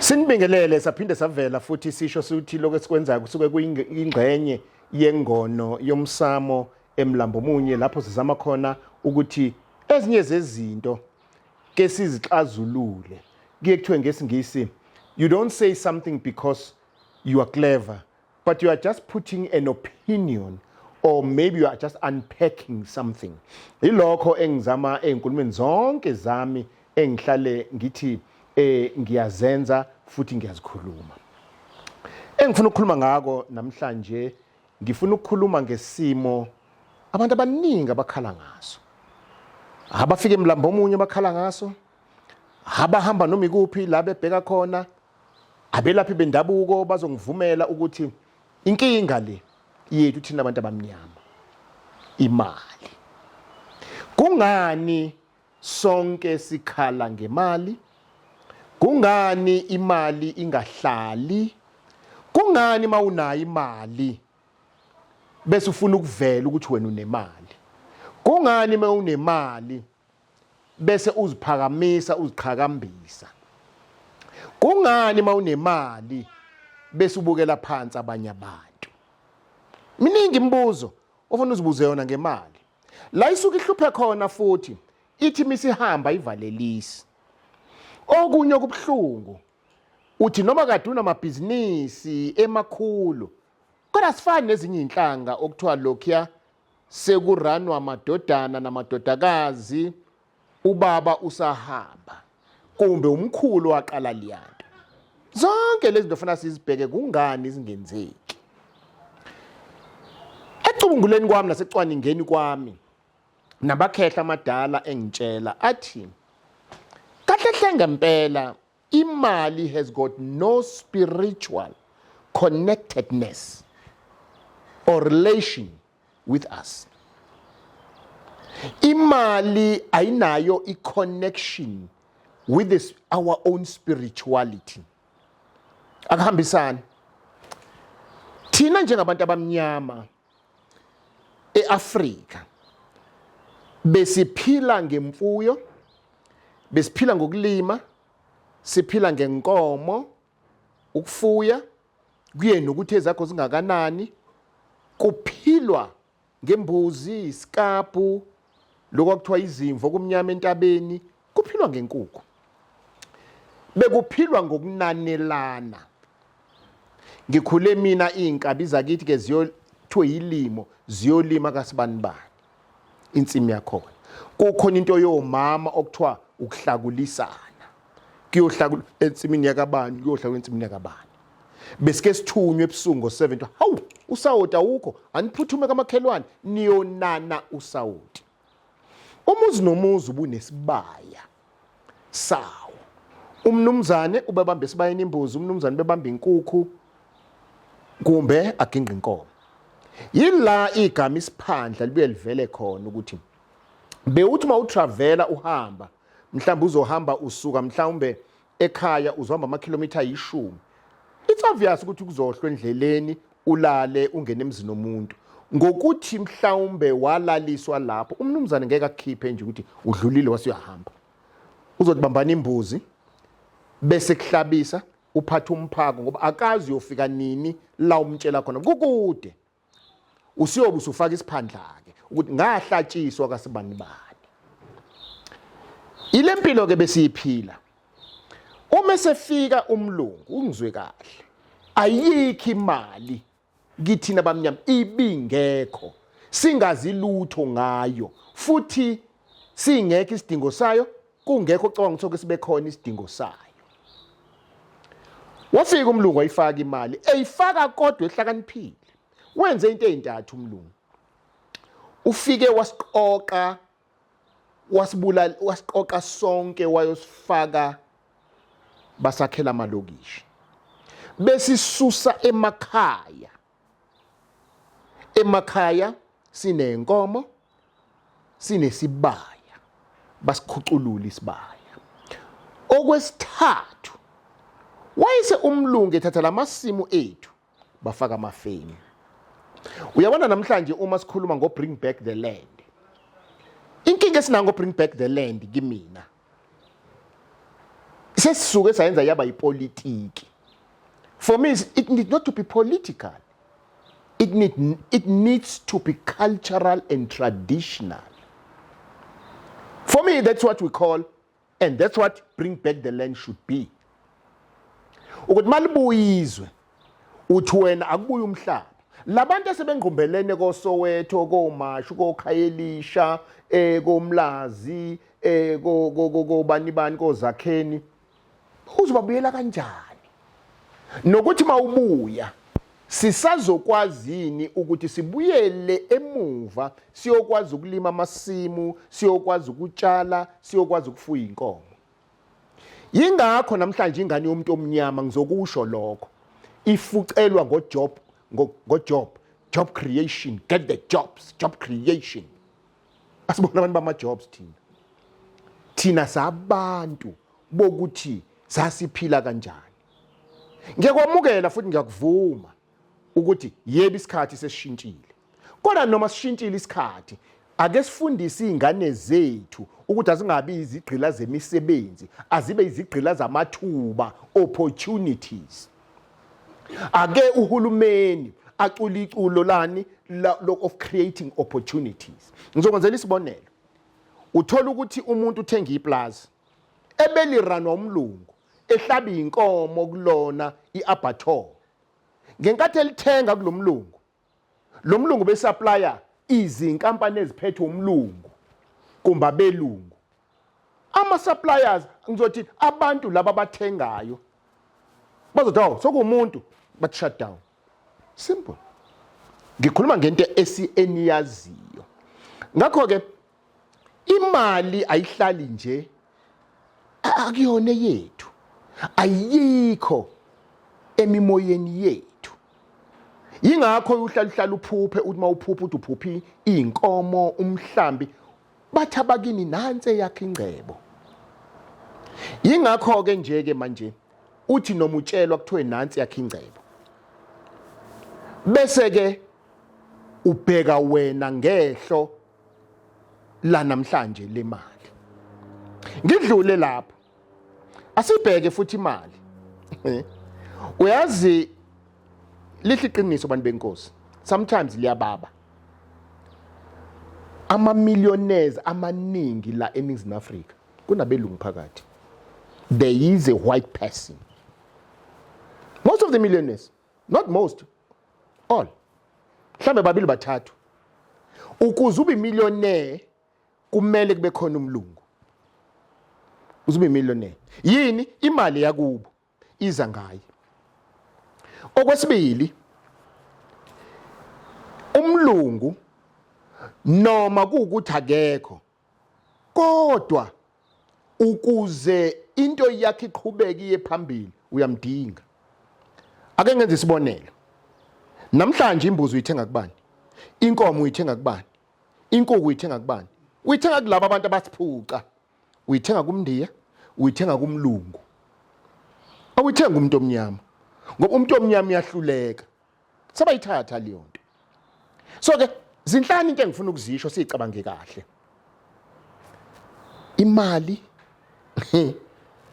Sinibingelele saphinde savela futhi sisho sithi lokho esikwenzayo kusuke kuyingxenye yengono yomsamo emlambo munye lapho sizama khona ukuthi ezinye zezinto ke sizixazulule kuye kuthiwe ngesingisi you don't say something because you are clever But you are just putting an opinion or maybe you are just unpacking something. Ilokho engizama ezinkulumeni zonke zami engihlale ngithi eh ngiyazenza futhi ngiyazikhuluma. Engifuna ukukhuluma ngako namhlanje ngifuna ukukhuluma ngesimo abantu abaningi abakhala ngaso. Abafike emlambo omunye bakhala ngaso. Abahamba noma ikuphi la bebheka khona Abelaphi bendabuko bazongivumela ukuthi inkinga le yethu thina abantu abamnyama imali. Kungani sonke sikhala ngemali? Kungani imali ingahlali? Kungani mawunayo imali bese ufuna ukuvela ukuthi wena unemali? Kungani mawunemali bese uziphakamisa uziqhakambisa kungani mawunemali bese ubukela phansi abanye abantu miningi imibuzo ofuna uzibuze yona ngemali la isuke ihluphe khona futhi ithi misihamba ivalelisi okunye okubuhlungu uthi noma kade unamabhizinisi emakhulu kodwa sifani nezinye inhlanga okuthiwa lokhuya sekuranwa amadodana namadodakazi ubaba usahamba kumbe umkhulu waqala liyanto zonke lezi zinto fanele sizibheke kungani zingenzeki ecubunguleni kwami nasecwaningeni kwami nabakhehla amadala engitshela athi kahle hle ngempela Imali has got no spiritual connectedness or relation with us. Imali ayinayo i connection with this, our own spirituality. Akuhambisani. Thina njengabantu abamnyama eAfrika besiphila ngemfuyo besiphila ngokulima siphila ngenkomo ukufuya kuyena ukuthi ezakho zingakanani kuphilwa ngembuzi isikabhu lokho kwakuthiwa izimvu okumnyama entabeni kuphilwa ngenkukhu bekuphilwa ngokunanelana ngikhule mina iy'nkabi zakithi ke ziyothiwe yilimo ziyolima kasibanibani insimi yakhona kukhona into yomama okuthiwa ukuhlakulisana kuyohlala ensimini yakabani kuyohlala ensimini yakabani besike sithunywe ebusuku ngo-7 kuthiwa hawu usawoti awukho aniphuthume kamakhelwane niyonana usawoti umuzi nomuzi ubunesibaya sawo umnumzane ubebamba esibayeni imbuzi umnumzane ubebamba inkukhu kumbe agingqa inkomo yila igama isiphandla libuye livele khona ukuthi bewuthi uma utravela uhamba mhlawumbe uzohamba usuka mhlawumbe ekhaya uzohamba amakhilomitha ayishumi it's obvious ukuthi kuzohlwa endleleni ulale ungene emzini omuntu ngokuthi mhlawumbe walaliswa lapho umnumzane ngeke akukhiphe nje ukuthi udlulile wasuyahamba uzothi bambana imbuzi bese kuhlabisa uphatha umphako ngoba akazi uyofika nini la umtshela khona kukude usiyobe usufaka isiphandla-ke ukuthi ngahlatshiswa kasibani bani ile mpilo-ke besiyiphila uma esefika umlungu ungizwe kahle ayikho imali kithina bamnyama ibingekho singazi lutho ngayo futhi singekho isidingo sayo kungekho ocabanga ukuthi oke sibe khona isidingo sayo wafika umlungu ayifaka imali eyifaka kodwa ehlakaniphile wenze into ezintathu umlungu ufike wasiqoqa wasibulala wasiqoqa sonke wayosifaka basakhela amalokishi besisusa emakhaya emakhaya sinenkomo sinesibaya basikhuculula isibaya okwesithathu wayese umlungu ethatha lamasimu ethu bafaka amafeni uyabona namhlanje uma sikhuluma ngo bring back the land inkinga esinango bring back the land kimina sesisuke sayenza yaba yipolitiki for me it need not to be political it, need, it needs to be cultural and traditional for me that's what we call and that's what bring back the land should be ukuthi malibuyizwe uthi wena akubuye umhlaba labantu esebengqumbelene koSoweto koMashu koKhayelisha eh koMlazi eh ko kobani bani koZakheni uzobabuyela kanjani nokuthi mawubuya sisazokwazini ukuthi sibuyele emuva siyokwazi ukulima amasimu siyokwazi ukutshala siyokwazi ukufuya inkomo Yingakho namhlanje ingane yomuntu omnyama ngizokusho lokho ifucelwa ngojob ngojob job creation get the jobs job creation asibona abantu bama-jobs thina thina sabantu bokuthi sasiphila kanjani ngiyakwamukela futhi ngiyakuvuma ukuthi yebo isikhathi sesishintshile Kodwa noma sishintshile isikhathi, ake sifundise izingane zethu ukuthi azingabi izigqila zemisebenzi, azibe izigqila zamathuba, opportunities. Ake uhulumeni acula iculo lani of creating opportunities. Ngizokwenzela isibonelo. Uthola ukuthi umuntu uthenga iplaza ebeliranwa umlungu ehlaba inkomo kulona iabator ngenkathi elithenga kulomlungu Lo mlungu besaplaya izinkampani eziphethwe umlungu kumba belungu. Ama suppliers ngizothi abantu laba bathengayo bazothi awu sokumuntu but shut down. Simple. Ngikhuluma ngento esi eniyaziyo. Ngakho ke imali ayihlali nje akuyona yethu ayikho emimoyeni yethu yingakho uhlala uhlala uphuphe uthi uma uphupha uthi uphuphi iy'nkomo umhlambi bathi abakini nansi eyakhe ingcebo yingakho-ke nje-ke manje uthi noma utshelwa kuthiwe nansi yakhe ingcebo bese-ke ubheka wena ngehlo la namhlanje le mali ngidlule lapho asibheke futhi imali eh, uyazi lihle iqiniso abantu benkosi sometimes liyababa ama millionaires amaningi la eNingizimu Afrika kunabelungu phakathi there is a white person most of the millionaires not most all mhlambe babili bathathu ukuze ube millionaire kumele kube khona umlungu uze ube millionaire yini imali yakubo iza ngaye okwesibili umlungu noma kuwukuthi akekho Kodwa ukuze into yakhe iqhubeke iye phambili uyamdinga. Ake ngenze isibonelo. Namhlanje imbuzi uyithenga kubani? Inkomo uyithenga kubani? Inkuku uyithenga kubani? Uyithenga kulabo abantu abasiphuca. Uyithenga kumndiya, uyithenga kumlungu. Awuyithenga umuntu omnyama. Ngoba umuntu omnyama uyahluleka. sebayithatha leyo nto so ke zinhlanu into engifuna ukuzisho siyicabange kahle imali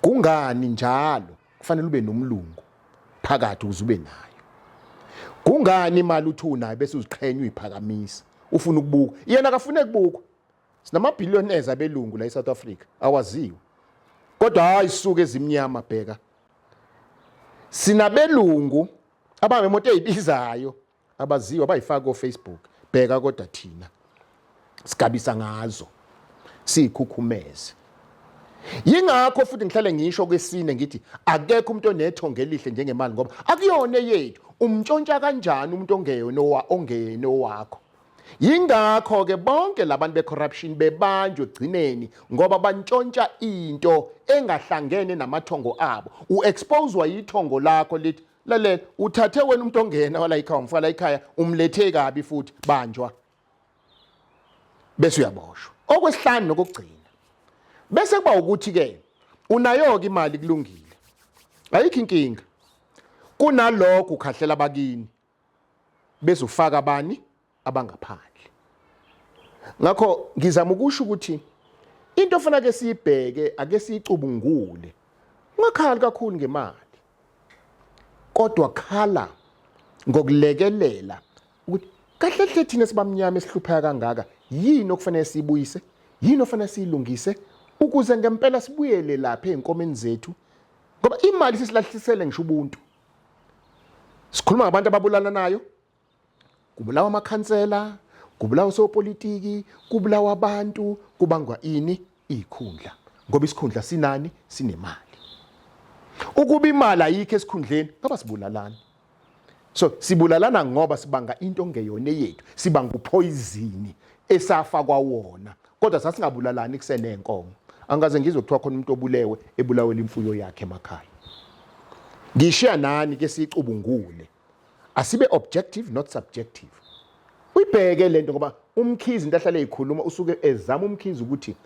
kungani njalo kufanele ube nomlungu phakathi ukuze ube nayo kungani imali uthi unayo bese uziqhenya uyiphakamisa ufuna ukubuka yena akafune kubukwa sinamabillionaires abelungu la eSouth Africa awaziwe kodwa hayi suke ezimnyama bheka sinabelungu abanemoto ezibizayo abaziwa bayifaka ko Facebook bheka kodwa thina sigabisa ngazo siyikhukhumeze yingakho futhi ngihlale ngisho kwesine ngithi akekho umuntu onethonge elihle njengemali ngoba akuyona eyethu umntshontsha kanjani umuntu ongeyona ongeyena owakho Yingakho ke bonke labantu becorruption bebanjwe gcineni ngoba bantshontsha into engahlangene namathongo abo. Uexposewa yithongo lakho lithi lalela uthathe wena umuntu ongena wala ikhaya umfala ikhaya umlethe kabi futhi banjwa. Bese uyaboshwa. Okwesihlanu nokugcina. Bese kuba ukuthi ke unayoke imali kulungile. Ayikho inkinga. Kunalokho ukhahlela bakini bezofaka abani abangaphandle ngakho ngizama ukusho ukuthi into ofuna ke siyibheke ake siyicubungule ungakhali kakhulu ngemali kodwa khala ngokulekelela ukuthi kahle hle thina sibamnyama esihlupheka kangaka yini okufanele siyibuyise yini ofanele siyilungise ukuze ngempela sibuyele lapha ezinkomeni zethu ngoba imali sisilahlisele ngisho ubuntu sikhuluma ngabantu ababulalanayo kubulawa amakhansela kubulawa osopolitiki kubulawa abantu kubangwa ini ikhundla ngoba isikhundla sinani sinemali ukuba imali ayikho esikhundleni ngoba sibulalana so sibulalana ngoba sibanga into ngeyona yethu sibanga uphoyizini esafakwa wona kodwa sasingabulalani kusenenkomo angikaze ngizwe kuthiwa khona umuntu obulewe ebulawela imfuyo yakhe emakhaya ngishiya nani ke sicubungule asibe objective not subjective uyibheke lento ngoba umkhizi into ahlale eyikhuluma usuke ezama umkhizi ukuthi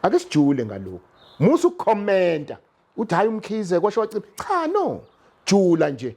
ake sijule ngalokho musa ukukhomenta uthi hayi umkhize kwasho wacima cha no jula nje